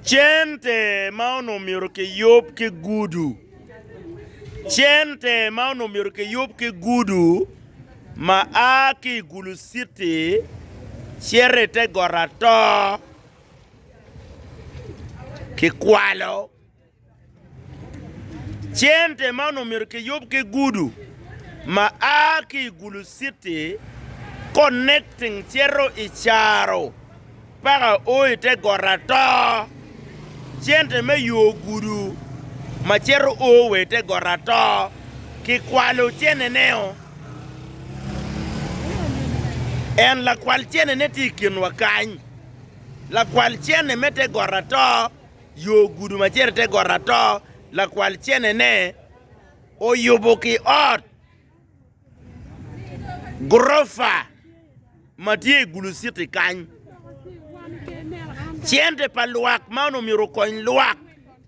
Cente ma onongo myero kiyub ki gudu. Cente ma onongo myero kiyub ki gudu ma a ki i Gulu citi cito i te got atoo kikwalo. Cente man omyero kiyub ki gudu ma a ki i Gulu citi konekting cito i Caro paka o i te got ato. Cente me yo gudu ma cito o wa i te got ato ki kwalo cene ne o en lakwal cene ne tye i kinwa kany lakwal cene me te got ato. yo gudo ma cito i te got ato, lakwal cene-ne oyubo ki ot gurofa ma tye i Gulu Citi kany. Cente pa lwak man omyero okony lwak,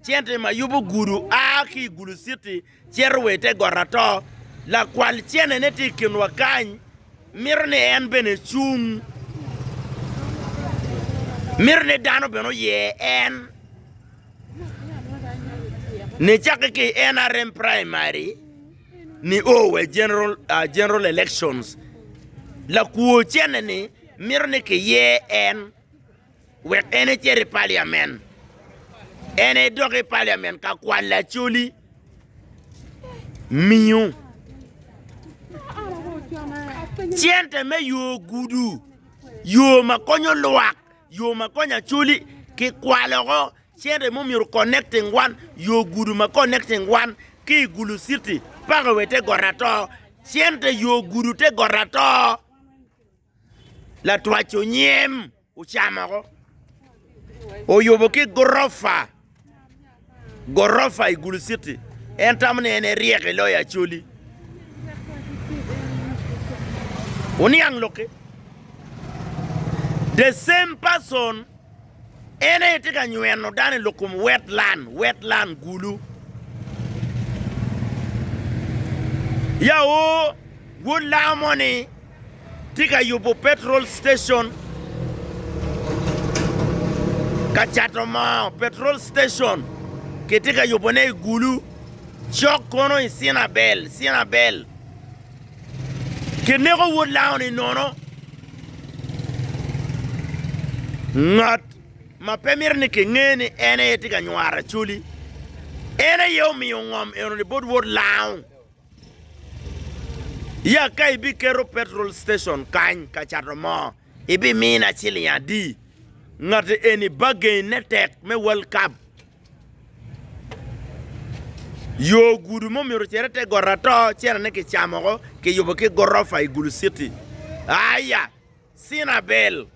cente ma yubo gudo a ki i Gulu Citi Cito wa i te got ato. Lakwal cene-ne tye i kinwa kany. Mito ni en bene ecung. Mito ni dano bene oye en. Ni cakke ki i NRM primary ni o wa i general, uh, general elections. Lakwo cene-ni mito ni kiye en. wek en ecit i paliamen. En aye dok i paliamen ka kwal lacoli miyo cente me yo gudu, yo ma konyo lwak, yo ma konyo acoli ki kwaloko cente mo myero connecting wan yo gudu ma connecting wan ki i gulu city paka wa i te got ato. Cente yo gudu te got ato. Latwac onyem ocamo oko, oyubo ki gurofa, gurofa i Gulu city en tamo ni en eryek i loyo Acholi. Wuniang lok-ki, the same person. En aye tye ka nyweno dano i lok kom wetlan, wetlan, gulu. Ya o, wod lango moni tye ka yubo petrol station, ka cato moo, petrol station kitye ka yubone i gulu, cok kono i Cinabel, Cinabel. Kineko wod laoni nono. Ngat ma pe mito ni kinge ni en aye tye ka nywaro Acholi, en aye omiyo ngom enoni bot wod Lao. Ya ka ibiketo petrol station kany ka cato moo, ibimina ciling adi? Ngat eni bargain ne tek me World Cup. Yo gudo ma omyero ocer i te got ato cene-ne kicamo woko kiyubo ki gorofa i Gulu Citi. Aya, Cena Bell,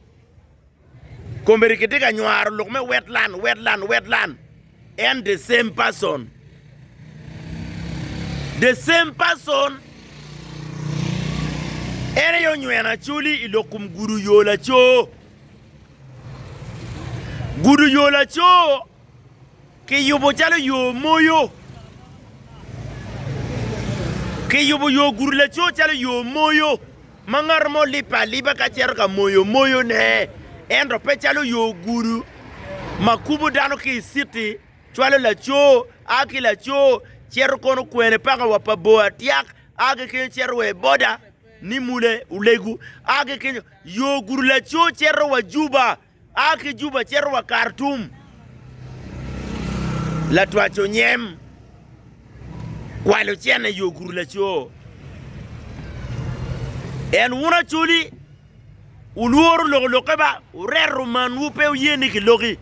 Komedi kitye ka nywaro lok me Wetland, Wetland, Wetland, en the same person, the same person, en aye onyweno Acholi i lok kom gudo yo laco. Gudo yo laco kiyubo calo yo moyo, kiyubo yo gudo laco calo yo moyo ma ngat mo libbe aliba ka cito ka moyo moyone ento pe calo yo gudo ma kubo dano ki i citi cwalo laco a ki laco cito kono kwene paka wa pa bor atyaka a ki kenyo cito wa i boda ni mule olego a ki kenyo Yo gudo laco cito wa Juba, a ki Juba cito wa Kartum. Latwac onyem kwalo cene yo gudo laco. En wun Acholi, wulworo loko lokke ba, wureto manwu pe wuye ni kiloki.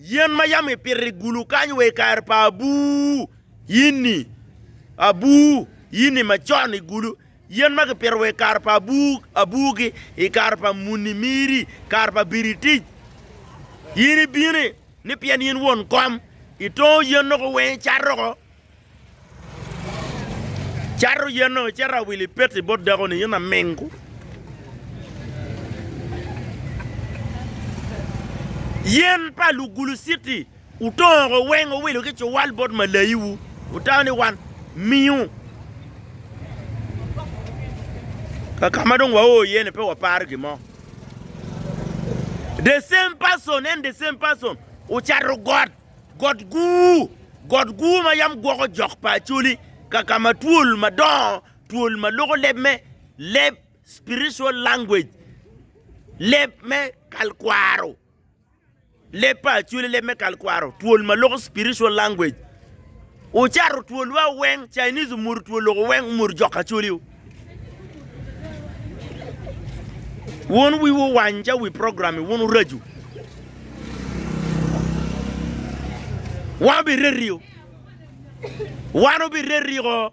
Yen ma yam ipito i gulu kany wa i kare pa abuu yinni, abuu yinni macon i gulu, yen ma kipito wa i kare pa abuu abuugi, i kare pa muni miri, kare pa Biritic, yin ibini, ni pien yin won kom, itongo yen-nogo weng icato oko, Cato yeno, icito awil i peti bot dako-ni, in amingo. Yen pa Lugulu Citi otongo oko weng owilo ki cuwal bot malayiwu, otayo ni wan miyo. Kaka ma dong wao iye ni pe waparo gin mo. The same person and the same person ocato got Got Guu, Got Guu ma yam gwoko jok pa Acholi ka ka ma twol madongo, twol ma loko leb me leb, spiritual language, leb me kalkwaro, leb pa Acholi leb me kalkwaro, twol ma loko spiritual language. Wucato twol wa weng Chinese omuto twol loko weng omuto jok acholi u wun wiwu owany ca wi program i wun uracu wan obi reti u wan obi reti o.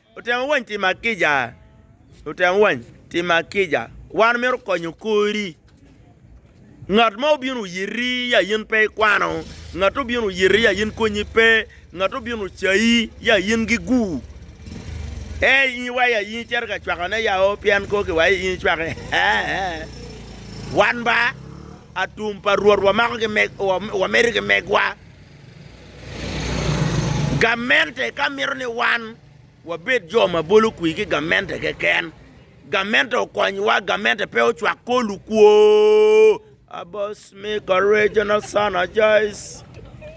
Lutino wany timo ma kica? Lutino wany timo ma kica? Wan omyero konyo kori. Ngat mo obino oyiti ya in pe ikwano, ngat obino oyiti ya in konyi pe, ngat obino ocayi ya in gigu. Ei in iwaco ya in icito ka cwakone ya o pien kor ki waco in icwake. Wan ba atum pa Rwot wamako ki meg, wa- wamedo ki megwa. Gamente ka mito ni wan wabed jo ma bolo kwir ki gamente keken, gamente okonywa, gamente pe ocwak kor lukwo.